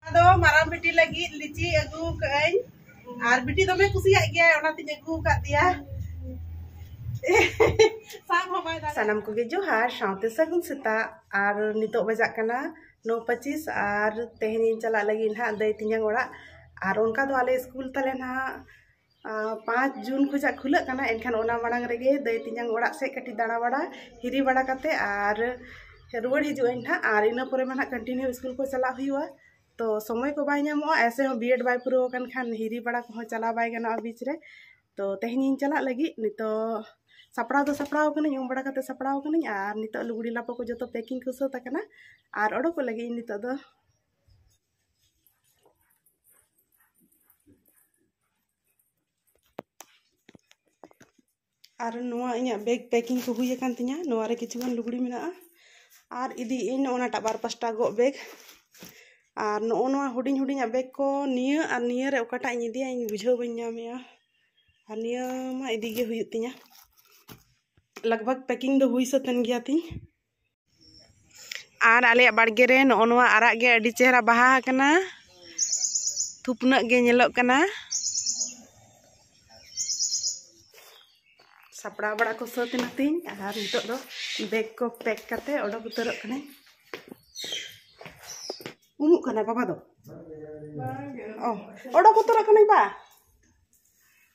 ᱟᱫᱚ ᱢᱟᱨᱟᱝ ᱵᱤᱴᱤ ᱞᱟᱹᱜᱤᱫ ᱞᱤᱪᱤ ᱟᱹᱜᱩ ᱠᱟᱹᱜᱼᱟᱹᱧ ᱟᱨ ᱵᱤᱴᱤ ᱫᱚᱢᱮ ᱠᱩᱥᱤᱭᱟᱜ ᱜᱮᱭᱟᱭ ᱚᱱᱟᱛᱤᱧ ᱟᱹᱜᱩ ᱟᱠᱟᱫ ᱫᱮᱭᱟ ᱥᱟᱵ ᱦᱚᱸ ᱵᱟᱭ ᱫᱟᱲᱮᱭᱟᱜᱼᱟ ᱥᱟᱱᱟᱢ ᱠᱚᱜᱮ ᱡᱚᱦᱟᱨ ᱥᱟᱶᱛᱮ ᱥᱟᱹᱜᱩᱱ ᱥᱮᱛᱟᱜ ᱟᱨ ᱱᱤᱛᱚᱜ ᱵᱟᱡᱟᱜ ᱠᱟᱱᱟ ᱱᱚ ᱯᱚᱸᱪᱤᱥ ᱟᱨ ᱛᱮᱦᱮᱧᱤᱧ ᱪᱟᱞᱟᱜ ᱞᱟᱹᱜᱤᱫ ᱱᱟᱦᱟᱜ ᱫᱟᱹᱭ ᱛᱤᱧᱟᱝ ᱚᱲᱟᱜ ᱟᱨ ᱚᱱᱠᱟ ᱫᱚ ᱟᱞᱮ ᱥᱠᱩᱞ ᱛᱟᱞᱮ ᱱᱟᱦᱟᱜ ᱯᱟᱸᱪ ᱡᱩᱱ ᱠᱷᱚᱱᱟᱜ ᱠᱷᱩᱞᱟᱹᱜ ᱠᱟᱱᱟ ᱮᱱᱠᱷᱟᱱ ᱚᱱᱟ ᱢᱟᱲᱟᱝ ᱨᱮᱜᱮ ᱫᱟᱹᱭ ᱛᱮᱧᱟᱝ ᱚᱲᱟᱜ ᱥᱮᱫ ᱠᱟᱹᱴᱤᱡ ᱫᱟᱬᱟ ᱵᱟᱲᱟ ᱦᱤᱨᱤ ᱵᱟᱲᱟ ᱠᱟᱛᱮ ᱟᱨ ᱨᱩᱣᱟᱹᱲ ᱦᱤᱡᱩᱜ ᱟᱹᱧ ᱦᱟᱸᱜ ᱟᱨ ᱤᱱᱟᱹ ᱯᱚᱨᱮ ᱢᱟ ᱦᱟᱸᱜ ᱠᱚᱱᱴᱤᱱᱤᱭᱩ ᱤᱥᱠᱩᱞ ᱠᱚ ᱪᱟᱞᱟᱜ ᱦᱩᱭᱩᱜᱼᱟ ᱛᱚ ᱥᱚᱢᱚᱭ ᱠᱚ ᱵᱟᱭ ᱧᱟᱢᱚᱜᱼᱟ ᱮᱭᱥᱮ ᱦᱚᱸ ᱵᱤᱭᱮᱰ ᱵᱟᱭ ᱯᱩᱨᱟᱹᱣ ᱟᱠᱟᱱ ᱠᱷᱟᱱ ᱦᱤᱨᱤ ᱵᱟᱲᱟ ᱠᱚᱦᱚᱸ ᱪᱟᱞᱟᱣ ᱵᱟᱭ ᱜᱟᱱᱚᱜᱼᱟ ᱵᱤᱪ ᱨᱮ ᱛᱚ ᱛᱮᱦᱮᱧ ᱤᱧ ᱪᱟᱞᱟᱜ ᱞᱟᱹᱜᱤᱫ ᱱᱤᱛᱚᱜ ᱥᱟᱯᱲᱟᱣ ᱫᱚ ᱥᱟᱯᱲᱟᱣ ᱠᱟᱹᱱᱟᱹᱧ ᱩᱢ ᱵᱟᱲᱟ ᱠᱟᱛᱮ ᱥᱟᱯᱲᱟᱣ ᱠᱟᱹᱱᱟᱹᱧ ᱟᱨ ᱱᱤᱛᱚᱜ ᱞᱩᱜᱽᱲᱤ ᱞᱟᱯᱚ ᱠᱚ ᱡᱚᱛᱚ ᱯᱮᱠᱤᱝ ᱠᱚ ᱥᱟᱹᱛ ᱟᱠᱟᱱᱟ ᱟᱨ ᱚᱰᱚᱠᱚᱜ ᱞᱟᱹᱜᱤᱫ ᱤᱧ ᱱᱤᱛᱚᱜ ᱫᱚ ᱟᱨ ᱱᱚᱣᱟ ᱤᱧᱟᱹᱜ ᱵᱮᱜᱽ ᱯᱮᱠᱤᱝ ᱠᱚ ᱦᱩᱭ ᱟᱠᱟᱱ ᱛᱤᱧᱟᱹ ᱱᱚᱣᱟ ᱨᱮ ᱠᱤᱪᱷᱩ ᱜᱟᱱ ᱞᱩᱜᱽᱲᱤ ᱢᱮᱱᱟᱜᱼᱟ ᱟᱨ ᱤᱫᱤᱭᱮᱫ ᱟᱹᱧ ᱱᱚᱜᱼᱚ ᱱᱟᱴᱟᱜ ᱵᱟᱨ ᱯᱟᱥᱴᱟ ᱜᱚᱜ ᱵᱮᱜᱽ ᱟᱨ ᱱᱚᱜᱼᱚ ᱱᱚᱣᱟ ᱦᱩᱰᱤᱧ ᱦᱩᱰᱤᱧᱟᱜ ᱵᱮᱜᱽ ᱠᱚ ᱱᱤᱭᱟᱹ ᱟᱨ ᱱᱤᱭᱟᱹ ᱨᱮ ᱚᱠᱟᱴᱟᱜ ᱤᱧ ᱤᱫᱤᱭᱟ ᱤᱧ ᱵᱩᱡᱷᱟᱹᱣ ᱵᱟᱹᱧ ᱧᱟᱢᱮᱜᱼᱟ ᱟᱨ ᱱᱤᱭᱟᱹ ᱢᱟ ᱤᱫᱤ ᱜᱮ ᱦᱩᱭᱩᱜ ᱛᱤᱧᱟᱹ ᱞᱟᱜᱽ ᱵᱷᱟᱜᱽ ᱯᱮᱠᱤᱝ ᱫᱚ ᱦᱩᱭ ᱥᱟᱹᱛ ᱮᱱ ᱜᱮᱭᱟ ᱛᱤᱧ ᱟᱨ ᱟᱞᱮᱭᱟᱜ ᱵᱟᱲᱜᱮ ᱨᱮ ᱱᱚᱜᱼᱚ ᱱᱚᱣᱟ ᱟᱨᱟᱜ ᱜᱮ ᱟᱹᱰᱤ ᱪᱮᱦᱨᱟ ᱵᱟᱦᱟ ᱟᱠᱟᱱᱟ ᱛᱷᱩᱯᱱᱟᱹᱜ ᱜᱮ ᱧᱮᱞᱚᱜ ᱠᱟᱱᱟ ᱥᱟᱯᱲᱟᱣ ᱵᱟᱲᱟ ᱠᱚ ᱥᱟᱹᱛ ᱮᱱᱟ ᱛᱤᱧ ᱟᱨ ᱱᱤᱛᱚᱜ ᱫᱚ ᱵᱮᱜᱽ ᱠᱚ ᱯᱮᱠ ᱠᱟᱛᱮ ᱚᱰᱚᱠ ᱩᱛᱟᱹᱨᱚᱜ ᱠᱟᱹᱱᱟᱹᱧ ᱩᱢᱩᱜ ᱠᱟᱱᱟ ᱵᱟᱵᱟ ᱫᱚ ᱚ ᱚᱰᱚᱠ ᱩᱛᱟᱹᱨᱚᱜ ᱠᱟᱹᱱᱟᱹᱧ ᱵᱟ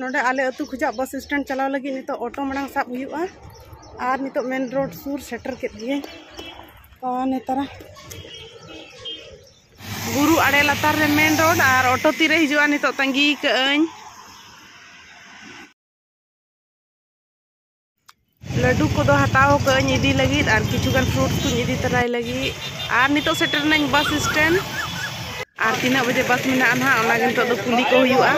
ᱱᱚᱰᱮ ᱟᱞᱮ ᱟᱹᱛᱩ ᱠᱷᱚᱡᱟᱜ ᱵᱟᱥ ᱥᱴᱮᱱᱰ ᱪᱟᱞᱟᱣ ᱞᱟᱹᱜᱤᱫ ᱱᱤᱛᱚᱜ ᱚᱴᱳ ᱢᱟᱲᱟᱝ ᱥᱟᱵ ᱦᱩᱭᱩᱜᱼᱟ ᱟᱨ ᱱᱤᱛᱚᱜ ᱢᱮᱱ ᱨᱳᱰ ᱥᱩᱨ ᱥᱮᱴᱮᱨ ᱠᱮᱫ ᱜᱤᱭᱟᱹᱧ ᱟᱨ ᱱᱮᱛᱟᱨ ᱵᱩᱨᱩ ᱟᱲᱮ ᱞᱟᱛᱟᱨ ᱨᱮ ᱢᱮᱱ ᱨᱳᱰ ᱟᱨ ᱚᱴᱳ ᱛᱤᱨᱮ ᱦᱤᱡᱩᱜᱼᱟ ᱱᱤᱛᱚᱜ ᱛᱟᱺᱜᱤ ᱠᱟᱹᱜᱼᱟᱹᱧ ᱞᱟᱹᱰᱩ ᱠᱚᱫᱚ ᱦᱟᱛᱟᱣ ᱠᱟᱹᱧ ᱤᱫᱤ ᱞᱟᱹᱜᱤᱫ ᱟᱨ ᱠᱤᱪᱷᱩ ᱜᱟᱱ ᱯᱷᱨᱩᱴᱥ ᱠᱚᱧ ᱤᱫᱤ ᱛᱟᱨᱟᱭ ᱞᱟᱹᱜᱤᱫ ᱟᱨ ᱱᱤᱛᱚᱜ ᱥᱮᱴᱮᱨ ᱱᱟᱹᱧ ᱵᱟᱥ ᱥᱴᱮᱱᱰ ᱟᱨ ᱛᱤᱱᱟᱹᱜ ᱵᱟᱡᱮ ᱵᱟᱥ ᱢᱮᱱᱟᱜᱼᱟ ᱱᱟᱦᱟᱜ ᱚᱱᱟᱜᱮ ᱱᱤᱛᱚᱜ ᱫᱚ ᱠᱩᱞᱤ ᱠᱚ ᱦᱩᱭᱩᱜᱼᱟ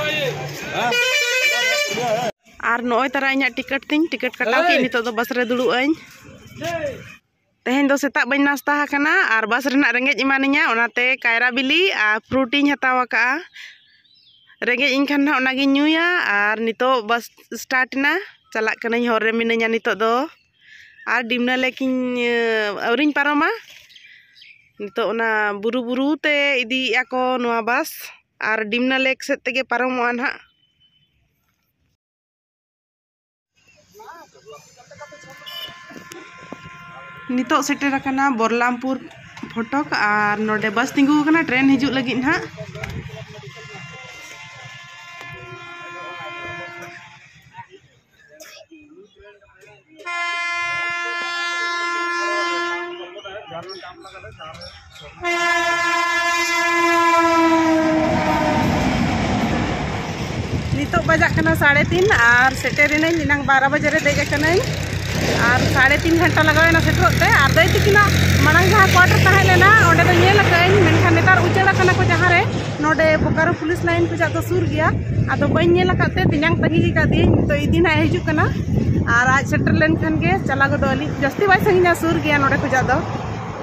ᱟᱨ ᱱᱚᱜᱼᱚᱭ ᱛᱟᱨᱟ ᱤᱧᱟᱹᱜ ᱴᱤᱠᱤᱴ ᱛᱤᱧ ᱴᱤᱠᱤᱴ ᱠᱟᱴᱟᱣ ᱠᱮᱫ ᱱᱤᱛᱚᱜ ᱫᱚ ᱵᱟᱥ ᱨᱮ ᱫᱩᱲᱩᱵ ᱟᱹᱧ ᱛᱮᱦᱮᱧ ᱫᱚ ᱥᱮᱛᱟᱜ ᱵᱟᱹᱧ ᱱᱟᱥᱛᱟ ᱟᱠᱟᱱᱟ ᱟᱨ ᱵᱟᱥ ᱨᱮᱱᱟᱜ ᱨᱮᱸᱜᱮᱡ ᱮᱢᱟᱱᱤᱧᱟ ᱚᱱᱟᱛᱮ ᱠᱟᱭᱨᱟ ᱵᱤᱞᱤ ᱟᱨ ᱯᱷᱨᱩᱴ ᱤᱧ ᱦᱟᱛᱟᱣ ᱟᱠᱟᱫᱼᱟ ᱨᱮᱸᱜᱮᱡ ᱤᱧ ᱠᱷᱟᱱ ᱦᱟᱸᱜ ᱚᱱᱟᱜᱤᱧ ᱧᱩᱭᱟ ᱟᱨ ᱱᱤᱛᱚᱜ ᱵᱟᱥ ᱥᱴᱟᱨᱴ ᱮᱱᱟ ᱪᱟᱞᱟᱜ ᱠᱟᱹᱱᱟᱹᱧ ᱦᱚᱨ ᱨᱮ ᱢᱤᱱᱟᱹᱧᱟ ᱱᱤᱛᱚᱜ ᱫᱚ ᱟᱨ ᱰᱤᱢᱱᱟ ᱞᱮᱠ ᱤᱧ ᱟᱹᱣᱨᱤᱧ ᱯᱟᱨᱚᱢᱟ ᱱᱤᱛᱚᱜ ᱚᱱᱟ ᱵᱩᱨᱩ ᱵᱩᱨᱩ ᱛᱮ ᱤᱫᱤᱭᱮᱫᱼᱟ ᱠᱚ ᱱᱚᱣᱟ ᱵᱟᱥ ᱟᱨ ᱰᱤᱢᱱᱟ ᱞᱮᱠ ᱥᱮᱫ ᱛᱮᱜᱮ ᱯᱟᱨᱚᱢᱚᱜᱼᱟ ᱦᱟᱸᱜ ᱱᱤᱛᱚᱜ ᱥᱮᱴᱮᱨ ᱟᱠᱟᱱᱟ ᱵᱚᱨᱞᱟᱢᱯᱩᱨ ᱯᱷᱚᱴᱚᱠ ᱟᱨ ᱱᱚᱰᱮ ᱵᱟᱥ ᱛᱤᱸᱜᱩ ᱟᱠᱟᱱᱟ ᱴᱨᱮᱱ ᱦᱤᱡᱩᱜ ᱞᱟᱹᱜᱤᱫ ᱱᱟᱦᱟᱜ Thank you. ᱱᱤᱛᱚᱜ ᱵᱟᱡᱟᱜ ᱠᱟᱱᱟ ᱥᱟᱲᱮ ᱛᱤᱱ ᱟᱨ ᱥᱮᱴᱮᱨᱮᱱᱟᱹᱧ ᱮᱱᱟᱝ ᱵᱟᱨᱚ ᱵᱟᱡᱮ ᱨᱮ ᱫᱮᱡ ᱟᱠᱟᱱᱟᱹᱧ ᱟᱨ ᱥᱟᱲᱮ ᱛᱤᱱ ᱜᱷᱚᱱᱴᱟ ᱞᱟᱜᱟᱣᱮᱱᱟ ᱥᱮᱴᱮᱨᱚᱜ ᱛᱮ ᱟᱨ ᱫᱟᱹᱭ ᱛᱤᱠᱤᱱᱟᱜ ᱢᱟᱲᱟᱝ ᱡᱟᱦᱟᱸ ᱠᱚᱣᱟᱴᱟᱨ ᱛᱟᱦᱮᱸ ᱞᱮᱱᱟ ᱚᱸᱰᱮ ᱫᱚ ᱧᱮᱞ ᱟᱠᱟᱫᱟᱹᱧ ᱢᱮᱱᱠᱷᱟᱱ ᱱᱮᱛᱟᱨ ᱩᱪᱟᱹᱲ ᱟᱠᱟᱱᱟ ᱠᱚ ᱡᱟᱦᱟᱸ ᱨᱮ ᱱᱚᱰᱮ ᱵᱳᱠᱟᱨᱳ ᱯᱩᱞᱤᱥ ᱞᱟᱭᱤᱱ ᱠᱷᱚᱱᱟᱜ ᱫᱚ ᱥᱩᱨ ᱜᱮᱭᱟ ᱟᱫᱚ ᱵᱟᱹᱧ ᱧᱮᱞ ᱟᱠᱟᱫ ᱛᱮ ᱛᱮᱧᱟᱝ ᱛᱟᱺᱜᱤ ᱟᱠᱟᱫᱮᱭᱟᱹᱧ ᱱᱤᱛᱚᱜ ᱤᱫᱤ ᱱᱟᱜ ᱦᱤᱡᱩᱜ ᱠᱟᱱᱟ ᱟᱨ ᱟᱡ ᱥᱮᱴᱮᱨ ᱞᱮᱱᱠᱷᱟᱱ ᱜᱮ ᱪᱟᱞᱟᱣ ᱜᱚᱫᱚᱜ ᱟᱹᱞᱤᱧ ᱡᱟᱹᱥᱛᱤ ᱵᱟᱭ ᱥᱟᱺᱜᱤᱧᱟ ᱥᱩᱨ ᱜᱮᱭᱟ ᱱᱚᱰᱮ ᱠᱷᱚᱱᱟᱜ ᱫᱚ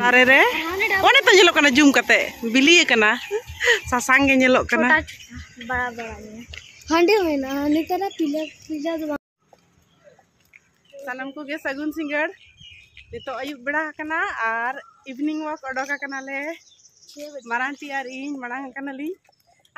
ᱫᱟᱨᱮ ᱨᱮ ᱚᱱᱮ ᱛᱚ ᱧᱮᱞᱚᱜ ᱠᱟᱱᱟ ᱡᱩᱢ ᱠᱟᱛᱮ ᱵᱤᱞᱤ ᱟᱠᱟᱱᱟ ᱥᱟᱥᱟᱝ ᱜᱮ ᱧᱮᱞᱚᱜ ᱠᱟᱱᱟ ᱦᱟᱺᱰᱤ ᱢᱮᱱᱟᱜᱼᱟ ᱱᱮᱛᱟᱨ ᱯᱤᱞᱟ ᱯᱤᱞᱟ ᱫᱚ ᱥᱟᱱᱟᱢ ᱠᱚᱜᱮ ᱥᱟᱹᱜᱩᱱ ᱥᱤᱸᱜᱟᱹᱲ ᱱᱤᱛᱚᱜ ᱟᱹᱭᱩᱵ ᱵᱮᱲᱟ ᱟᱠᱟᱱᱟ ᱟᱨ ᱤᱵᱷᱤᱱᱤᱝ ᱣᱟᱠ ᱚᱰᱚᱠ ᱟᱠᱟᱱᱟᱞᱮ ᱢᱟᱨᱟᱝ ᱴᱤ ᱟᱨ ᱤᱧ ᱢᱟᱲᱟᱝ ᱟᱠᱟᱱᱟᱞᱤᱧ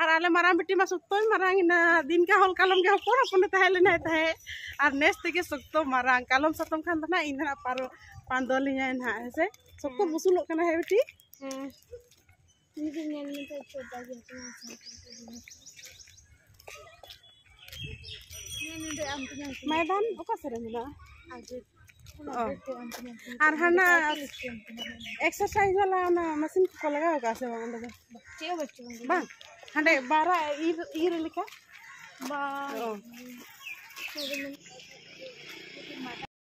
ᱟᱨ ᱟᱞᱮ ᱢᱟᱨᱟᱝ ᱵᱤᱴᱤ ᱢᱟ ᱥᱚᱠᱛᱚᱭ ᱢᱟᱨᱟᱝ ᱮᱱᱟ ᱫᱤᱱ ᱠᱟ ᱦᱚᱞ ᱠᱟᱞᱚᱢ ᱜᱮ ᱦᱚᱯᱚᱱ ᱦᱚᱯᱚᱱᱮ ᱛᱟᱦᱮᱸ ᱞᱮᱱᱟᱭ ᱛᱟᱦᱮᱸᱫ ᱟᱨ ᱱᱮᱥ ᱛᱮᱜᱮ ᱥᱚᱠᱛᱚ ᱢᱟᱨᱟᱝ ᱠᱟᱞᱚᱢ ᱥᱟᱛᱚᱢ ᱠᱷᱟᱱ ᱫᱚ ᱱᱟᱜ ᱤᱧ ᱱᱟᱜ ᱯᱟᱨᱚ ᱯᱟᱸᱫᱚᱞᱤᱧᱟᱭ ᱱᱟᱜ ᱦᱮᱸᱥᱮ ᱥᱚᱠᱛᱚ ᱵᱩᱥᱩᱞᱚᱜ ᱠᱟᱱᱟ ᱦᱮᱸ ᱵᱤᱴᱤ ᱦᱮᱸ ᱱᱤᱡᱮ ᱧᱮᱞ ᱢᱮ ᱛᱚ ᱪᱚᱴᱟ ᱜᱮ ᱢᱟᱭᱫᱟᱱ ᱚᱠᱟ ᱥᱮᱫ ᱨᱮ ᱢᱮᱱᱟᱜᱼᱟ ᱟᱨ ᱦᱟᱱᱟ ᱮᱠᱥᱟᱨᱥᱟᱭᱤᱡᱽ ᱵᱟᱞᱟ ᱚᱱᱟ ᱢᱮᱥᱤᱱ ᱠᱚᱠᱚ ᱞᱟᱜᱟᱣ ᱠᱟᱜᱼᱟ ᱥᱮ ᱵᱟᱝ ᱚᱸᱰᱮ ᱫᱚ ᱪᱮᱫ ᱦᱚᱸ ᱵᱟᱹᱪᱩᱜ ᱵᱟᱝ ᱦᱟᱸᱰᱮ ᱵᱟᱨᱟ ᱤᱨ ᱤᱨ ᱞᱮᱠᱟ ᱵᱟᱝ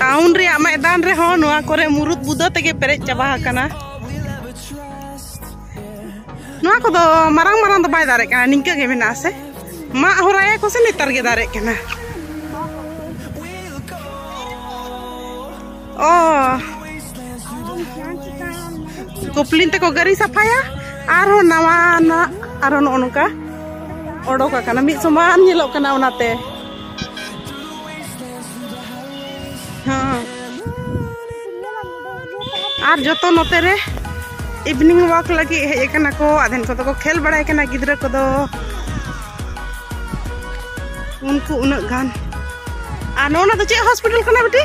ᱴᱟᱣᱩᱱ ᱨᱮᱭᱟᱜ ᱢᱟᱭᱫᱟᱱ ᱨᱮᱦᱚᱸ ᱱᱚᱣᱟ ᱠᱚᱨᱮ ᱢᱩᱨᱩᱫ ᱵᱩᱫᱟᱹ ᱛᱮᱜᱮ ᱯᱮᱨᱮᱡ ᱪᱟᱵᱟ ᱟᱠᱟᱱᱟ ᱱᱚᱣᱟ ᱠᱚᱫᱚ ᱢᱟᱨᱟᱝ ᱢᱟᱨᱟᱝ ᱫᱚ ᱵᱟᱭ ᱫᱟᱨᱮᱜ ᱠᱟᱱᱟ ᱱᱤᱝᱠᱟᱹ ᱜᱮ ᱢᱮᱱᱟᱜᱼᱟ ᱥᱮ ᱢᱟᱜ ᱦᱚᱨᱟᱭᱟ ᱠᱚ ᱥᱮ ᱱᱮᱛᱟᱨ ᱜᱮ ᱫᱟᱨᱮᱜ ᱠᱟᱱᱟ ᱚ ᱠᱚᱯᱞᱤᱱ ᱛᱮᱠᱚ ᱜᱟᱹᱨᱤ ᱥᱟᱯᱷᱟᱭᱟ ᱟᱨᱦᱚᱸ ᱱᱟᱣᱟᱱᱟᱜ ᱟᱨᱦᱚᱸ ᱱᱚᱜᱼᱚ ᱱᱚᱝᱠᱟ ᱚᱰᱚᱠ ᱟᱠᱟᱱᱟ ᱢᱤᱫ ᱥᱚᱢᱟᱱ ᱧᱮᱞᱚᱜ ᱠᱟᱱᱟ ᱚᱱᱟᱛᱮ ᱟᱨ ᱡᱚᱛᱚ ᱱᱚᱛᱮ ᱨᱮ ᱤᱵᱷᱤᱱᱤᱝ ᱣᱟᱠ ᱞᱟᱹᱜᱤᱫ ᱦᱮᱡ ᱟᱠᱟᱱᱟ ᱠᱚ ᱟᱫᱷᱮᱱ ᱠᱚᱫᱚ ᱠᱚ ᱠᱷᱮᱞ ᱵᱟᱲᱟᱭ ᱠᱟᱱᱟ ᱜᱤᱫᱽᱨᱟᱹ ᱠᱚᱫᱚ ᱩᱱᱠᱩ ᱩᱱᱟᱹᱜ ᱜᱟᱱ ᱟᱨ ᱱᱚᱣᱟ ᱫᱚ ᱪᱮᱫ ᱦᱚᱥᱯᱤᱴᱟᱞ ᱠᱟᱱᱟ ᱵᱤᱴᱤ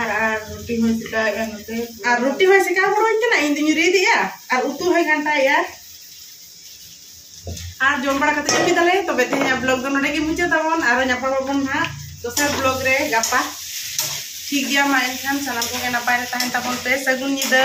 ᱟᱨ ᱟᱨ ᱨᱩᱴᱤ ᱦᱚᱸ ᱪᱮᱠᱟᱭᱮᱜᱼᱟ ᱱᱚᱛᱮ ᱟᱨ ᱨᱩᱴᱤ ᱦᱚᱸ ᱪᱮᱠᱟ ᱦᱩᱲᱩᱧ ᱠᱟᱱᱟ ᱤᱧ ᱫᱩᱧ ᱨᱤᱫᱮᱜᱼᱟ ᱟᱨ ᱩᱛᱩ ᱦᱚᱸᱭ ᱜᱷᱟᱱᱴᱟᱭᱮᱜᱼᱟ ᱟᱨ ᱡᱚᱢ ᱵᱟᱲᱟ ᱠᱟᱛᱮ ᱡᱚᱢ ᱠᱮᱫᱟᱞᱮ ᱛᱚᱵᱮ ᱛᱮᱦᱮᱧᱟᱜ ᱵᱞᱚᱜ ᱫᱚ ᱱᱚᱰᱮ ᱜᱮ ᱢᱩᱪᱟᱹᱫ ᱛᱟᱵᱚᱱ ᱟᱨ ᱧᱟᱯᱟᱢ ᱟᱵᱚᱱ ᱦᱟᱸᱜ ᱫᱚᱥᱟᱨ ᱵᱞᱚᱜ ᱨᱮ ᱜᱟᱯᱟ ᱴᱷᱤᱠ ᱜᱮᱭᱟ ᱢᱟ ᱮᱱᱠᱷᱟᱱ ᱥᱟᱱᱟᱢ ᱠᱚᱜᱮ ᱱᱟᱯᱟᱭ ᱨᱮ ᱛᱟᱦᱮᱱ ᱛᱟᱵᱚᱱ ᱯᱮ ᱥᱟᱹᱜᱩᱱ ᱧᱤᱫᱟᱹ